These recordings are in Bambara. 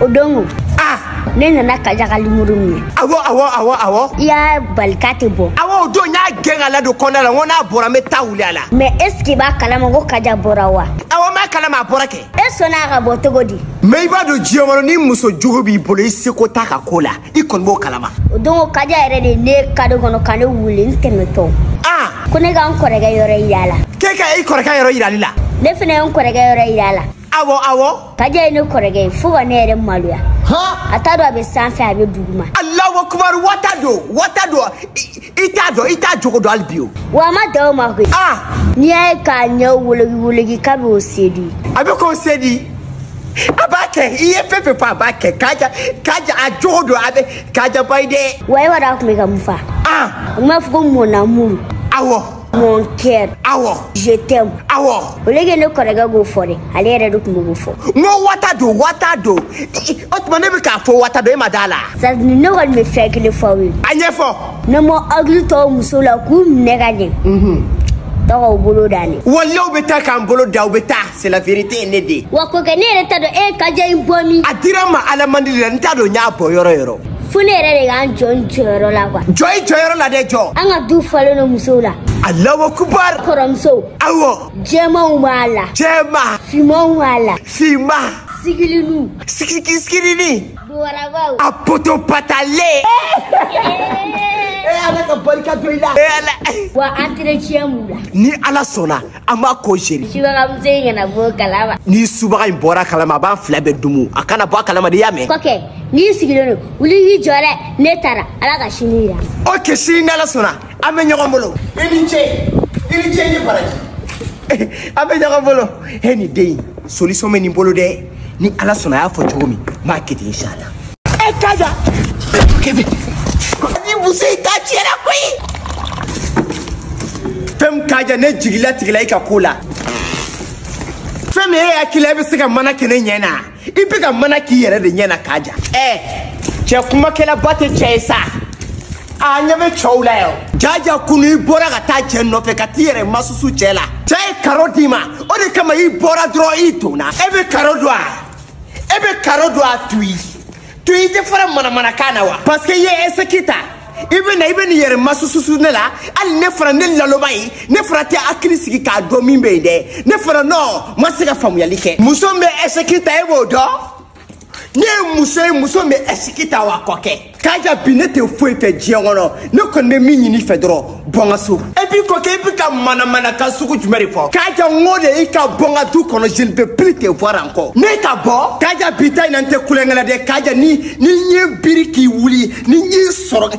o don ko ah ne nana kaja ka l'amour min ye awɔ awɔ awɔ awɔ i y'a bali k'a tɛ bɔ awɔ o don n y'a gɛn k'a ladon kɔnɔna la n ko n'a bɔra n bɛ taa wuli a la mɛ est-ce que i b'a kalama ko kaja bɔra wa awɔ n b'a kalama a bɔra kɛ e sɔnna a ka bɔ cogo di mɛ i b'a dɔn diɲɛ kɔnɔ ni muso jugu b'i bolo i seko t'a ka ko la i kɔni b'o kalama o don ko kaja yɛrɛ de ye ne kado kɔnɔ ka ne wele n tɛmɛtɔ ah ko ne ka n kɔrɔkɛ yɔrɔ yira a la k'e ka i kɔrɔkɛ yɔrɔ yirali la ne fana ye n kɔrɔkɛ yɔrɔ yira a la awɔ awɔ. kaja ye ne kɔrɔkɛ ye fo ka ne yɛrɛ maloya. a t'a dɔn a bɛ sanfɛ a bɛ duguma. alahu akubaru aw t'a dɔn aw t'a dɔn i t'a dɔn i t'a jogo dɔn hali bi o. wa a ma dan o ma koyi. aa. n'i y'a ye k'a ɲɛw woloki woloki k'a bɛ o séduire. a bɛ k'o séduire. a b'a kɛ i ye fɛn fɛn fɔ a b'a kɛ kaja kaja a jogo don a bɛ kaja ba ye dɛ. wa e b'a dɔn a tun bɛ ka mun fɔ. aa. a tun b'a fɔ ko mon amour. awɔ. Mon cœur. Awɔ. Je t'aime. Awɔ. O le ke ne kɔrɔkɛ k'o fɔ dɛ, ale yɛrɛ de tun bɛ k'o fɔ. N ko aw t'a dɔn, aw t'a dɔn. O tuma ne bɛ k'a fɔ aw t'a dɔn, e ma d'a la. Sadi ne kɔni bɛ fɛn kelen fɔ aw ye. A ɲɛfɔ. N'aw ma hakili to aw musow la k'u minɛ ka ɲɛ. Unhun. Taa k'aw bolo dan dɛ. Walayi u bɛ taa k'aw bolo dan, u bɛ taa. C'est la vérité ne den. Wa ko kɛ ne yɛrɛ t'a dɔn e ye kaja in bɔ min. A dira n ma Ala man deli la n t'a dɔn n y'a bɔ yɔrɔ yɔrɔ. Fo ne yɛrɛ de k'an jɔ n jɔyɔrɔ la quoi. Jɔ i jɔyɔrɔ la dɛ jɔ. An ka du falen don musow la. Alahu akubar. Kɔrɔmusow. Awɔ. Jɛmanw b'a la. Jɛman. Fimanw b'a la. Fiman. Sigilinu. Sigiki sigilini. Bobarabaw. A poto patale. E Ala ka barika don i la. E Ala. Wa entretien b'u la. Ni Ala sɔnna. an b'a ko seri subagamuso in kana bɔ a kalama ni subaga in bɔra a kalama a b'an fila bɛɛ dumu a kana bɔ a kalama n'i y'a mɛn kɔkɛ n'i sigilen don wuli y'i jɔ dɛ ne taara ala ka sini yira ok sini n'ala sɔnna an bɛ ɲɔgɔn bolo i ni ce i ni ce i ni baraji an bɛ ɲɔgɔn bolo e ni den solution bɛ nin bolo dɛ ni ala sɔnna a y'a fɔ cogo min n b'a kɛ ten inshala e kaja kebe ni muso in ta tiɲɛna koyi fɛn min kaja ne jigi latigɛla i ka ko la fɛn min e hakili la i bɛ se ka mana kɛ ne ɲɛ na i bɛ ka mana k'i yɛrɛ de ɲɛ na kaja ɛ cɛ kumakɛlaba tɛ cɛ ye sa a ɲɛ bɛ cɛw la yan jaja kunu i bɔra ka taa cɛ nɔfɛ ka t'i yɛrɛ masusu cɛ la cɛ ye karo d'i ma o de kama i bɔra dɔrɔn i donna e bɛ karo dɔn a e bɛ karo dɔn a tuyi tuyi i tɛ fara manamanakan na wa parce que i ye eseki ta i bɛ na i bɛ n'i yɛrɛ masususu ne la hali ne fana ne laloba ye ne fana tɛ hakili sigi k'a dɔn min bɛ yen dɛ ne fana nɔ ma se ka faamuyali kɛ muso min bɛ eseki ta e b'o dɔn ne ye muso ye muso bɛ risiki ta wa kɔkɛ kaja bi ne tɛ foyi fɛ diɲɛ kɔnɔ ne kɔni bɛ min ɲini i fɛ dɔrɔn bɔ n ka so et puis kɔkɛ i bɛ ka manamanakan sugu jumɛn de fɔ kaja n ko de i ka bɔ n ka du kɔnɔ je ne peux plus te voir encore ne ka bɔ kaja bi ta in na n tɛ tulonkɛ la dɛ kaja ni ne ye n biri ka wuli ni n y'i sɔrɔ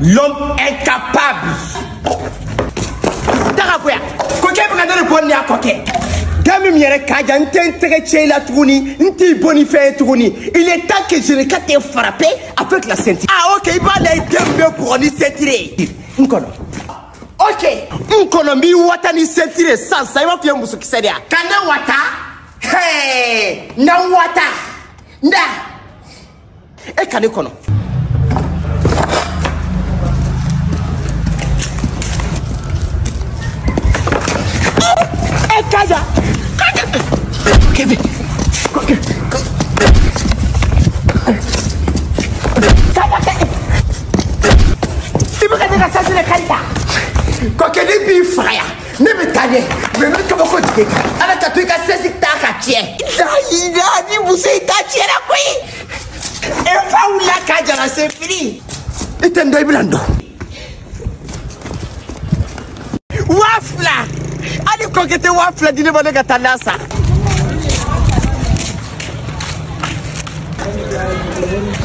l'homme incapable daga koya ko k'e bɛ ka ne de bɔ ni y'a kɔkɛ da min yɛrɛ kaja n tɛ n tɛgɛ ci i la tuguni n t'i bon ni fɛn ye tuguni il est temps que je ne ka te frappe avec la ceinture ah ok i b'a la i den bɛ bugɔ ni ceinture ye n kɔnɔ ok n kɔnɔ n b'i wata ni ceinture ye sisan sisan i b'a fɔ i ye musokisɛ de ye ka ne wata hee n ka wata n da e ka ne kɔnɔ kaja kaja kebe kaja i bɛ ka ne ka ceinture kari ta kɔkɛ ne b'i faga yan ne bɛ taa ɲɛ mɛ ne kabako jigin kan ala ka to i ka sɛsi ta ka tiɲɛ. layiya ni muso in ta tiɲɛna koyi e fa wulila kaja ça suffit. i tɛ n dɔn i bɛna n dɔn. waa fila hali kɔkɛ i tɛ waa fila di ne ma ne ka taa na san.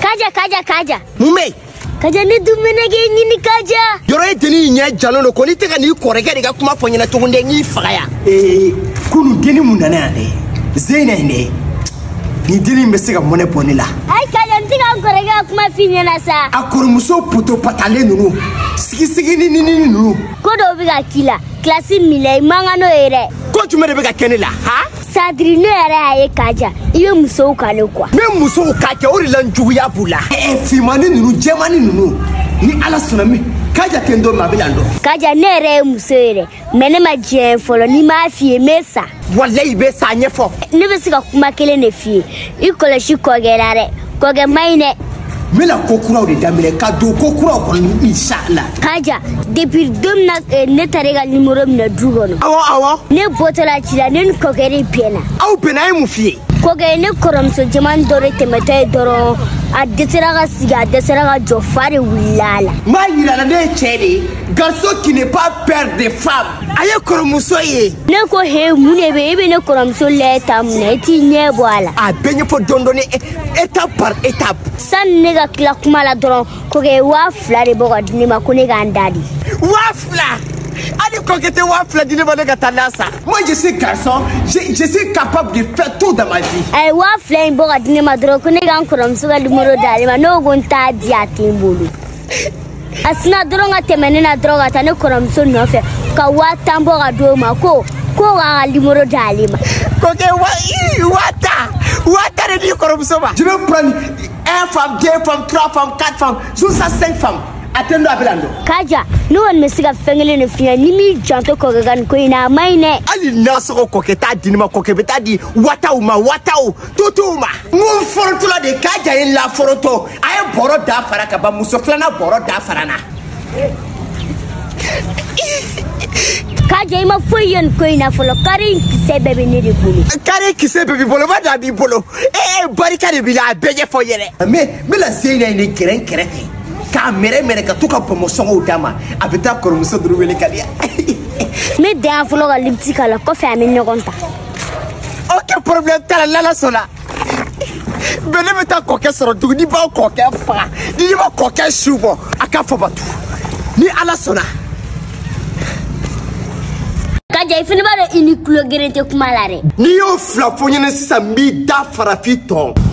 kaja kaja kaja. mun bɛ yen. kaja ne dun bɛna k'e ɲini kaja yɔrɔ ye dennin in ɲɛ jalen don ko n'i tɛ ka n'i kɔrɔkɛ de ka kuma fɔ n ɲɛna cogo dɛ n k'i faga yan ee kunu dennin min nana yan dɛ zeyina in dɛ nin dennin in bɛ se ka mɔnɛ bɔ ne la ayi kaja n tɛ ka n kɔrɔkɛ ka kuma f'i ɲɛna sa a kɔrɔmuso poto patalen ninnu sigisigi ni nini ninnu ko dɔw bɛ ka k'i la kilasi min la i man kan n'o ye dɛ ko jumɛn de bɛ ka kɛ ne la ha c'est-à-dire ne yɛrɛ y'a ye kaja i bɛ musow kale quoi n bɛ musow ka kɛ o de la n juguya b'u la finmani ninnu jɛmani ninnu ni ala sɔnna min kaja ten don ma a bɛ na dɔn kaja ne yɛrɛ ye muso ye dɛ mɛ ne ma jɛn fɔlɔ ni n m'a f'i ye n bɛ sa walayi i bɛ sa ɲɛfɔ ne bɛ se ka kuma kelen de f'i ye i kɔlɔsi kɔkɛ la dɛ kɔkɛ man ɲi dɛ n bɛna ko kuraw de daminɛ ka don ko kuraw kɔnɔ insala kaja depuis don min na eh, ne taara i ka nimoro minɛ du kɔnɔ awɔ awɔ ne bɔtɔla ci la ne ni kɔkɛ de bɛnna aw bɛnna a ye mun f'i ye kɔkɛ ne kɔrɔmuso jɛman dɔ de tɛmɛtɔ ye dɔrɔn a dɛsɛra ka sigi a dɛsɛra ka jɔ fa de wulila a la n b'a yira la ne ye cɛɛ de ye garçon qui n'a pas peur de femme a ye kɔrɔmuso ye ne ko he mun de bɛ e bɛ ne kɔrɔmuso lajɛ tan mun na e t'i ɲɛ bɔ a la. a bɛɛ ɲɛfɔ dɔɔni dɔɔni étape par étape. sani ne ka tila kuma la dɔrɔn kɔkɛ waa fila de bɔ ka di ne ma ko ne ka n da de. waa fila hali kɔkɛ tɛ waa fila di ne ma ne ka taa na san. moi je suis garçon je, je suis capable de faire tout dans ma vie. a ye waa fila in bɔ ka di ne ma dɔrɔn ko ne ka n kɔrɔmuso ka nimoro d'ale ma ne ko ko n t'a di a tɛ n bolo. a sinna dɔrɔn ka tɛmɛ ne na dɔrɔn ka taa ne kɔrɔmuso nɔfɛ ka waa tan bɔ ka d'o ma ko ko k'a ka limoro di ale ma kɔkɛ waa tan waa tan de di kɔrɔmuso ma je vais prendre un femme deux femmes trois femmes quatre femmes jusqu'à cinq femmes a tɛ n don a bɛ la n don kaja ne kɔni bɛ se ka fɛn kelen de f'i ɲɛ n'i m'i janto kɔkɛ ka nin ko in na a man ɲi dɛ hali nasɔngɔ kɔkɛ t'a di ne ma kɔkɛ bɛ taa di wataw ma wataw totow ma n ko n forotola de kaja ye laforoto a ye bɔrɔ da fara ka ban muso filanan bɔrɔ da fara na kaja i ma foyi ye nin ko in na fɔlɔ kari in kisɛ bɛɛ bɛ ne de bolo kari kisɛ bɛɛ b'i bolo ba da b'i bolo ee barika de b'i la a bɛɛ ɲɛfɔ yɛrɛ mɛ n bɛna se in na nin gɛrɛn kɛrɛfɛ k'a mɛrɛ mɛrɛ ka to ka bɔnbɔnsɔngɔw d'a ma a bɛ taa kɔrɔmuso duru wele ka di yan n bɛ dan yan fɔlɔ ka libiti k'a la kɔfɛ an bɛ ɲɔgɔn ta ok problème t'a la n'ala sɔnna bɛn ne bɛ taa kɔkɛ sɔrɔ dugu ne bɛ kɔkɛ faga ne bɛ kɔkɛ su bɔ a ka fabatu ni ala sɔnna. kaja i fana b'a dɔn i ni tulo geren tɛ kuma la dɛ. n'i y'o fila fɔ n ɲɛna sisan n b'i da fara f'i tɔn.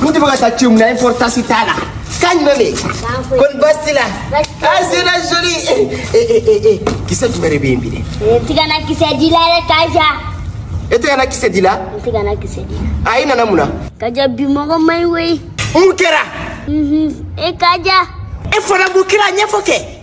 Mun tɛ fɛ ka taa ci mun na importance t'a la. K'a ɲuman bɛ yen. Kɔni baasi t'i la. Ah c'est la jolie. Eh eh eh eh kisɛ jumɛn de bɛ yen bi dɛ? N tɛ ka na kisɛ di la dɛ Kaja. E tɛ ka na kisɛ di la? N tɛ ka na kisɛ di la. A i nana mun na? Kaja bi mɔgɔ man ɲi koyi. Mun kɛra? E Kaja. E fana mun kɛra ɲɛfɔ kɛ.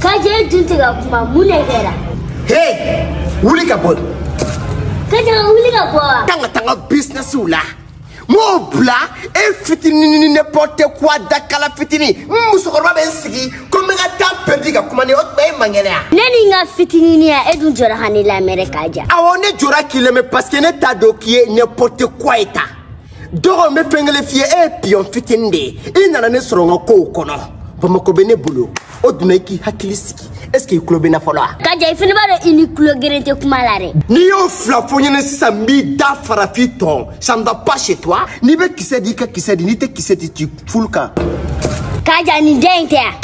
Kaja dun tɛ ka kuma mun de kɛra. Hey! Wuli ka bɔ. Kaja wuli ka bɔ wa. Kan ka taa n ka businessw la. N b'o bila e fitinin n'importe quoi dakala fitinin n musokɔrɔba bɛ n sigi ko n bɛ ka temps pɛridi ka kuma n'i ye o tuma e man kɛnɛ yan. Ne ni n ka fitininiya e dun jɔra ka ne lamɛn dɛ Kaja. Awɔ ne jɔra k'i lamɛn parce que ne t'a dɔn k'i ye n'importe quoi ye tan. dɔgɔ n bɛ fɛn kelen f'i ye e ye piyɔn fitinin de ye i nana ne sɔrɔ n ka kow kɔnɔ bamakɔ bɛ ne bolo o dunna i k'i hakili sigi est ce que i tulo bɛ n na fɔlɔ wa. kaja i fana b'a dɔn i ni tulo geren tɛ kuma la dɛ. n'i y'o fila fɔ n ɲɛna sisan n b'i da fara f'i tɔn ça ne va pas chez toi n'i bɛ kisɛ di i ka kisɛ di n'i tɛ kisɛ di k'i fulu kan. kaja nin den in tɛ yan.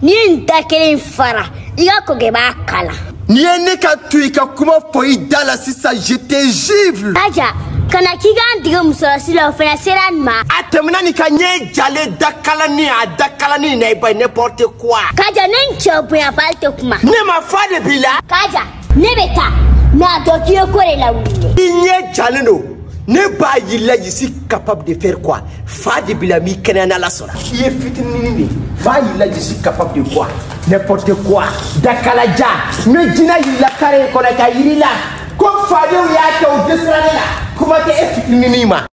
n'i ye nin da kelen fara i ka kɔkɛ b'a kala n'i ye ne ka to i ka kuma fɔ i da la sisan je te jure kaja kana k'i k'an dege musolasi la o fana sera nin ma a tɛmɛna nin kan ɲɛ jalen dakalani a dakalani na i ba n'importe quoi kaja ne n cɛ bonyabali tɛ kuma ne ma fa de b'i la kaja ne bɛ taa mɛ a dɔn k'i ye ko de lawuli i ɲɛ jalen don ne b'a y'i la je suis capable de faire quoi fa de b'i la n b'i kɛnɛya n'ala sɔnna i ye fitininin ye n b'a y'i la je suis capable de quoi n'importe quoi dakalaja n bɛ jinɛ y'i la kare in kɔnɔ k'a yir'i la ko fadenw y'a kɛ u dɛsɛra ne la kuma tɛ e fitininin ma